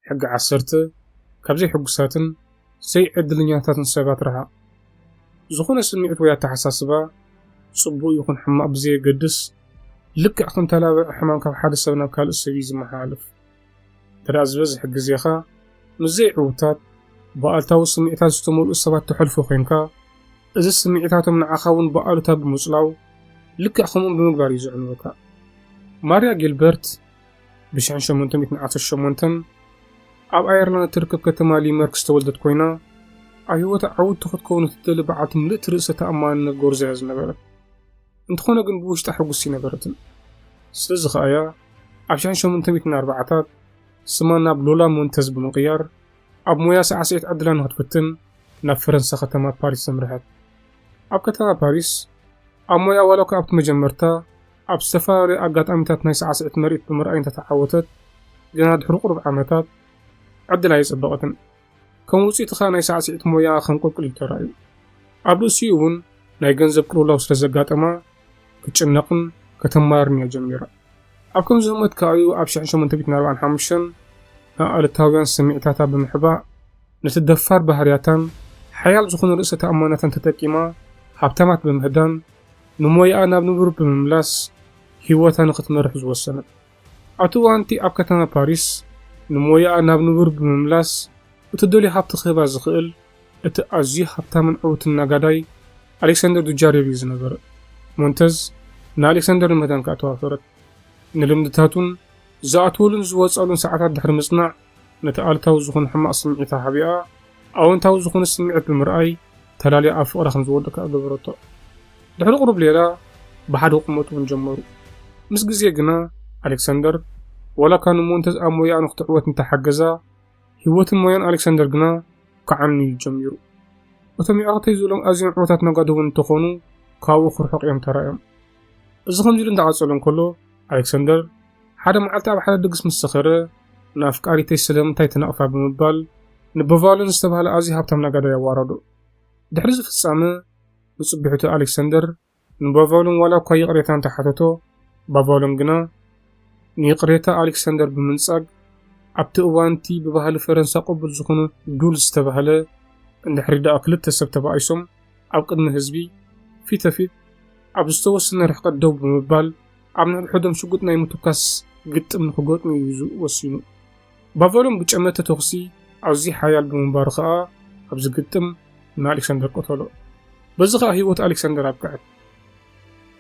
ሕጊ ዓሰርተ፣ ካብ ዘይሕጉሳትን ዘይዕድልኛታትን ሰባት ርሓቕ። ዝኾነ ስምዒት ወይ ኣተሓሳስባ፣ ጽቡቕ ይኹን ሕማቕ ብዘየገድስ፣ ልክዕ ከም ተላባዒ ሕማም ካብ ሓደ ሰብ ናብ ካልእ ሰብ እዩ ዝመሓላለፍ። እንተድኣ ዝበዝሕ ግዜኻ ምስ ዘይዕውታት፣ ብኣሉታዊ ስምዒታት ዝተመልኡ ሰባት ተሕልፎ ዄንካ፣ እዚ ስምዒታቶም ንዓኻ እውን ብኣሉታ ብምጽላው ልክዕ ከምኦም ብምግባር እዩ ዘዕንወካ። ማርያ ጊልበርት፣ ብ1818 ኣብ ኣየርላንድ እትርከብ ከተማ ሊመርክ ዝተወልደት ኮይና ኣብ ህይወታ ዓውቲ ክትከውን እትደሊ በዓልቲ ምልእቲ ርእሰ ተኣማንነት ጎርዞ እያ ዝነበረት እንተኾነ ግን ብውሽጣ ሕጉስ ይነበረትን ስለዚ ከኣ እያ ኣብ 1840ታት ስማ ናብ ሎላ ሞንተዝ ብምቕያር ኣብ ሞያ ሳዕስዒት ዕድላ ንክትፍትን ናብ ፈረንሳ ከተማ ፓሪስ ዘምርሐት ኣብ ከተማ ፓሪስ ኣብ ሞያ ዋላ እኳ ኣብቲ መጀመርታ ኣብ ዝተፈላለየ ኣጋጣሚታት ናይ ሳዕስዒት ምርኢት ብምርኣይ እንተተዓወተት ገና ድሕሪ ቁሩብ ዓመታት ዕድል ኣየጸበቐትን። ከም ውጽኢት ከኣ ናይ ሳዕስዒት ሞያኣ ከንቆልቁል ኢሉ ተራእዩ። ኣብ ርእሲኡ እውን ናይ ገንዘብ ቅልውላው ስለ ዘጋጠማ ክትጭነቕን ከተማርርን እያ ጀሚራ። ኣብ ከምዚ ህሞት ከኣ እዩ ኣብ ሽሕን ሸሞንተ ሚእትን ኣርባዓን ሓሙሽተን ንኣሉታውያን ስምዒታታ ብምሕባእ ነቲ ደፋር ባህርያታን ሓያል ዝኾነ ርእሰ ተኣማንነታን ተጠቂማ ሃብታማት ብምህዳን ንሞያኣ ናብ ንቡር ብምምላስ ህይወታ ንኽትመርሕ ዝወሰነት። ኣብቲ እዋን'ቲ ኣብ ከተማ ፓሪስ ንሞያኣ ናብ ንቡር ብምምላስ እትደልዮ ሃብቲ ክህባ ዝኽእል እቲ ኣዝዩ ሃብታምን ዕዉትን ነጋዳይ ኣሌክሳንደር ዱጃርየቭ እዩ ዝነበረ። ሞንተዝ ንኣሌክሳንደር ንምህዳን ከኣ ተዋፈረት። ንልምድታቱን ዝኣትወሉን ዝወጽኣሉን ሰዓታት ድሕሪ ምጽናዕ፣ ነቲ ኣሉታዊ ዝኹን ሕማቕ ስምዒታ ሓቢኣ፣ ኣወንታዊ ዝኹን ስምዒት ብምርኣይ ተላልያ ኣብ ፍቕራ ከምዝወድቕ ከኣ ገበረቶ። ድሕሪ ቁሩብ ሌላ ብሓደ ክቕመጡ እውን ጀመሩ። ምስ ግዜ ግና ኣሌክሳንደር ዋላ'ኳ ንሞንተዝ ኣብ ሞያኣ ንኽትዕወት እንተሓገዛ፣ ህይወትን ሞያን ኣሌክሳንደር ግና ክዓኑ እዩ ጀሚሩ። እቶም የዕሩኽተይ ዝብሎም ኣዝዮም ዕውታት ነጋዶ እውን እንተኾኑ ካብኡ ክርሕቑ እዮም ተራእዮም። እዚ ከምዚ'ሉ እንዳቐጸለ እንከሎ ኣሌክሳንደር ሓደ መዓልቲ ኣብ ሓደ ድግስ ምስ ሰኸረ ንኣፍቃሪተይ ስለምንታይ ትነቕፋ ብምባል ንበቫልን ዝተባህለ ኣዝዩ ሃብታም ነጋዳይ ኣዋረዶ። ድሕሪ እዚ ፍጻመ ንጽብሒቱ ኣሌክሰንደር ንበቫልን ዋላ እኳ ይቕሬታ እንተ ሓተቶ ባቫልን ግና ንይቕሬታ ኣሌክሰንደር ብምንጻግ ኣብቲ እዋን'ቲ ብባህሊ ፈረንሳ ቅቡል ዝኹነ ዱል ዝተባህለ እንድሕሪ ደኣ ክልተ ሰብ ተባኢሶም ኣብ ቅድሚ ህዝቢ ፊተፊት ኣብ ዝተወሰነ ርሕቀት ደው ብምባል ኣብ ነንሕዶም ሽጉጥ ናይ ምትኳስ ግጥም ንኽገጥሙ እዩ ወሲኑ። ባቫሎም ብጨመተ ተኹሲ ኣዝዩ ሓያል ብምንባሩ ከኣ ኣብዚ ግጥም ንኣሌክሳንደር ቀተሎ። በዚ ከኣ ህይወት ኣሌክሳንደር ኣብቅዐት።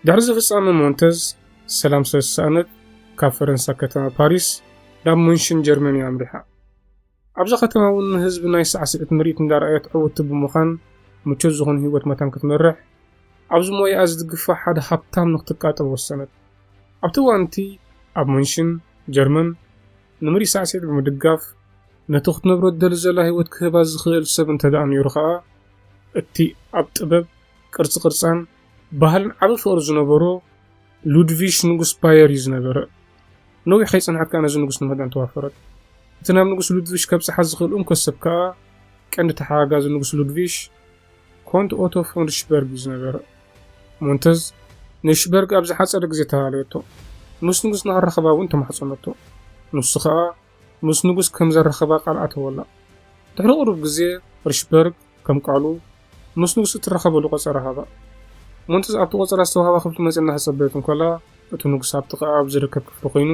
ድሕሪዚ ፍጻመ ሞንተዝ ሰላም ስለ ዝሰኣነት ካብ ፈረንሳ ከተማ ፓሪስ ናብ ሙንሽን ጀርመን'ያ ኣምሪሓ። ኣብዛ ከተማ እውን ንህዝቢ ናይ ሳዕስዒት ምርኢት እንዳርኣየት ዕውቲ ብምዃን ምቾት ዝኾነ ህይወት መታን ክትመርሕ ኣብዚ ሞያኣ ዝድግፋ ሓደ ሃብታም ንክትቃጠር ወሰነት። ኣብቲ እዋን እቲ ኣብ ሙንሽን፣ ጀርመን፣ ንምርኢት ሳዕስዒት ብምድጋፍ ነቲ ክትነብሮ ትደሊ ዘላ ህይወት ክህባ ዝኽእል ሰብ እንተድኣ ነይሩ ከኣ እቲ ኣብ ጥበብ፣ ቅርጺ ቅርጻን ባህልን ዓቢ ፍቕሪ ዝነበሮ ሉድቪሽ ንጉስ ባየር እዩ ዝነበረ። ነዊሕ ከይጸንሐት ከኣ ነዚ ንጉስ ንምህዳን ተዋፈረት። እቲ ናብ ንጉስ ሉድቪሽ ከብጽሓ ዝኽእል እንኮ ሰብ ከኣ ቀንዲ ተሓጋጋዚ ንጉስ ሉድቪሽ ኮንት ኦቶ ፎን ሪሽበርግ እዩ ዝነበረ። ሞንተዝ ንሪሽበርግ ኣብ ዝሓጸረ ግዜ ተላለየቶ። ምስ ንጉስ ንኽራኸባ እውን ተማሕጸነቶ። ንሱ ከኣ ምስ ንጉስ ከም ዘራኽባ ቃል ኣተወላ። ድሕሪ ቁሩብ ግዜ ርሽበርግ ከም ቃሉ ምስ ንጉስ እትራኸበሉ ቆጸራ ሃባ። ሞንትዝ ኣብቲ ቆጸራ ዝተዋህባ ክፍሊ መጽያ እናተጸበየት እንከላ እቲ ንጉስ ኣብ ጥቃኣ ኣብ ዝርከብ ክፍሊ ኮይኑ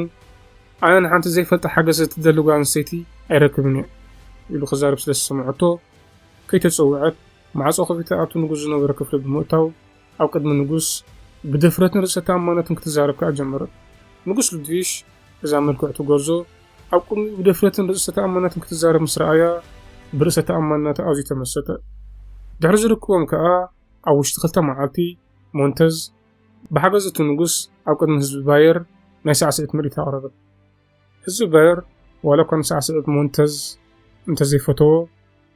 ኣነ ንሓንቲ ዘይፈልጣ ሓገዝ እትደሊ ጓል ኣንስተይቲ ኣይረክብን እየ ኢሉ ክዛረብ ስለ ዝሰምዐቶ ከይተጸውዐት ማዕጾ ከፊታ ኣብቲ ንጉስ ዝነበረ ክፍሊ ብምእታው ኣብ ቅድሚ ንጉስ ብድፍረትን ርእሰ-ተኣማንነትን ክትዛረብ ከኣ ጀመረት። ንጉስ ሉድቪሽ እዛ ምልክዕቲ ጐርዞ ኣብ ቅድሚኡ ብድፍረትን ርእሰ-ተኣማንነትን ክትዛረብ ምስ ረኣያ፣ ብርእሰ-ተኣማንነታ ኣዝዩ ተመሰጠ። ድሕሪ ዝርክቦም ከኣ ኣብ ውሽጢ ክልተ መዓልቲ፣ ሞንተዝ ብሓገዝ እቲ ንጉስ ኣብ ቅድሚ ህዝቢ ባየር ናይ ሳዕስዒት ምርኢት ኣቕረበት። ህዝቢ ባየር ዋላ እኳ ንሳዕስዒት ሞንተዝ እንተዘይፈተዎ፣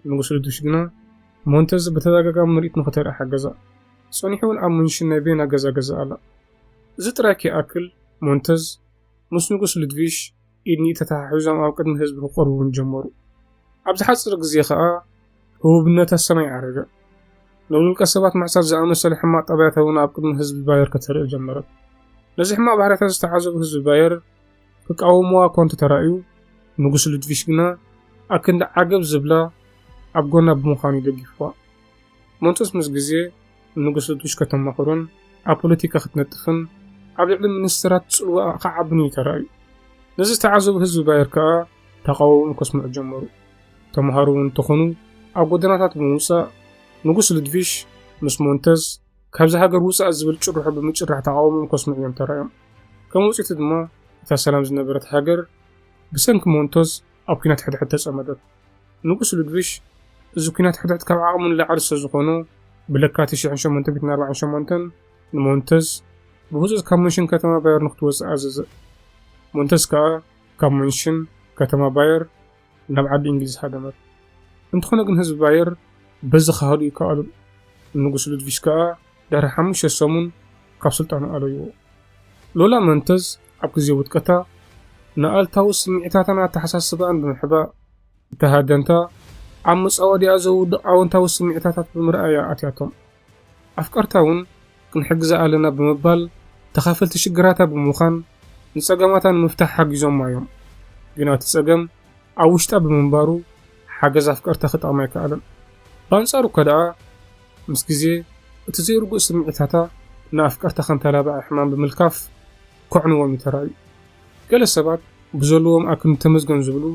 ንጉስ ልዱሽ ግና ሞንተዝ ብተደጋጋሚ ምርኢት ንኽተርኢ ሓገዛ። ጸኒሑ'ውን ኣብ ሙንሽን ናይ ቬና ገዛ ገዝኣ ኣላ። እዚ ጥራይ ከይኣክል፣ ሞንተዝ ምስ ንጉስ ልድቪሽ ኢድ ንኢድ ተተሓሒዞም ኣብ ቅድሚ ህዝቢ ክቐርቡ'ውን ጀመሩ። ኣብ ዝሓጽር ግዜ ከኣ፣ ህቡብነት ኣሰና ይዓረገ። ናይ ውልቀ ሰባት ምዕሳት ዝኣመሰለ ሕማቕ ጠባያት እውን ኣብ ቅድሚ ህዝቢ ባየር ከተርኢ ጀመረት። ነዚ ሕማቕ ባህርያታ ዝተዓዘቡ ህዝቢ ባየር ክቃወሙዋ እኳ እንተተራእዩ፣ ንጉስ ሉድቪሽ ግና ኣክንዲ ዓገብ ዝብላ ኣብ ጎና ብምዃን እዩ ደጊፉዋ። መንጦስ ምስ ግዜ ንጉስ ሉድቪሽ ከተማኽሮን ኣብ ፖለቲካ ክትነጥፍን ኣብ ልዕሊ ሚኒስተራት ጽልዋኣ ክዓብን እዩ ተራእዩ። ነዚ ዝተዓዘቡ ህዝቢ ባየር ከኣ ተቓውሞ ከስምዑ ጀመሩ። ተማሃሮ እውን እንተኾኑ ኣብ ጎደናታት ብምውጻእ ንጉስ ሉድቪሽ ምስ ሞንተዝ ካብዚ ሃገር ውጻእ ዝብል ጭርሖ ብምጭራሕ ተቓውሞኦም ከስምዑ እዮም ተራእዮም። ከም ውጽኢቱ ድማ እታ ሰላም ዝነበረት ሃገር ብሰንኪ ሞንተዝ ኣብ ኲናት ሕድሕድ ተጸመደት። ንጉስ ሉድቪሽ እዚ ኲናት ሕድሕድ ካብ ዓቕሙ ንላዕሊ ስለዝኾኖ ብለካቲት ሽሕን ሸሞንተ ሚእትን ኣርባዓን ሸሞንተን ንሞንተዝ ብህጹጽ ካብ ሙንሽን ከተማ ባየር ንክትወጽእ ኣዘዘ። ሞንተዝ ከኣ ካብ ሙንሽን ከተማ ባየር ናብ ዓዲ እንግሊዝ ሃደመት። እንተኾነ ግን ህዝቢ ባየር በዚ ክሃዱ ኣይከኣሉን። ንጉስ ሉድቪሽ ከኣ ድሕሪ ሓሙሽተ ሰሙን ካብ ስልጣኑ ኣለይዎ። ሎላ መንተዝ ኣብ ግዜ ውድቀታ ንኣልታዊ ስምዒታታን ኣተሓሳስባኣን ብምሕባእ እታ ሃደንታ ኣብ መጻወድያኣ ዘውድቕ ኣወንታዊ ስምዒታታት ብምርኣይ እያ ኣትያቶም። ኣፍቀርታ እውን ክንሕግዛ ኣለና ብምባል ተኻፈልቲ ሽግራታ ብምዃን ንጸገማታ ንምፍታሕ ሓጊዞማ እዮም። ግና እቲ ጸገም ኣብ ውሽጣ ብምንባሩ ሓገዝ ኣፍቀርታ ክጠቕማ ኣይከኣለን። ብኣንጻሩ እኳ ደኣ ምስ ግዜ እቲ ዘይርጉእ ስምዒታታ ንኣፍቀርታ ከንተላብዐ ሕማም ብምልካፍ ከዕንዎም እዩ ተራእዩ። ገለ ሰባት ብዘለዎም ኣክል ንተመስገን ዝብሉ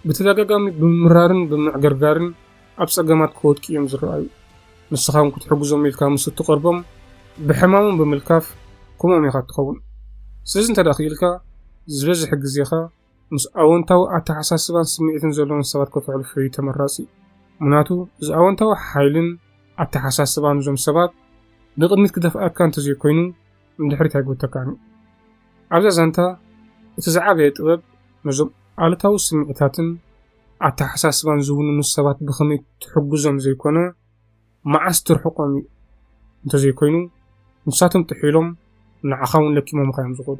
ብተደጋጋሚ ብምምራርን ብምምዕግርጋርን፣ ኣብ ጸገማት ክወድቂ እዮም ዝረኣዩ። ንስኻ እውን ክትሕግዞም ኢልካ ምስ እትቐርቦም ብሕማሞም ብምልካፍ ከምኦም ኢኻ እትኸውን። ስለዚ እንተድኣ ክኢልካ ዝበዝሕ ግዜኻ ምስ ኣወንታዊ ኣተሓሳስባን ስምዒትን ዘለዎም ሰባት ከተሕልፎ እዩ ተመራጺ። ምኽንያቱ እዚ ኣወንታዊ ሓይልን ኣተሓሳስባን እዞም ሰባት ንቕድሚት ክደፍኣካ እንተዘይኮይኑ ንድሕሪት ኣይጎተካን እዩ። ኣብዛ ዛንታ እቲ ዝዓበየ ጥበብ ነዞም ኣሉታዊ ስምዒታትን፣ ኣተሓሳስባን ዝውንኑ ሰባት ብኸመይ ትሕግዞም ዘይኮነ፣ መዓስ ትርሕቆም እዩ እንተዘይኮይኑ ንሳቶም ጥሒሎም ንዓኻውን ለኪሞምኻዮም ዝኸዱ።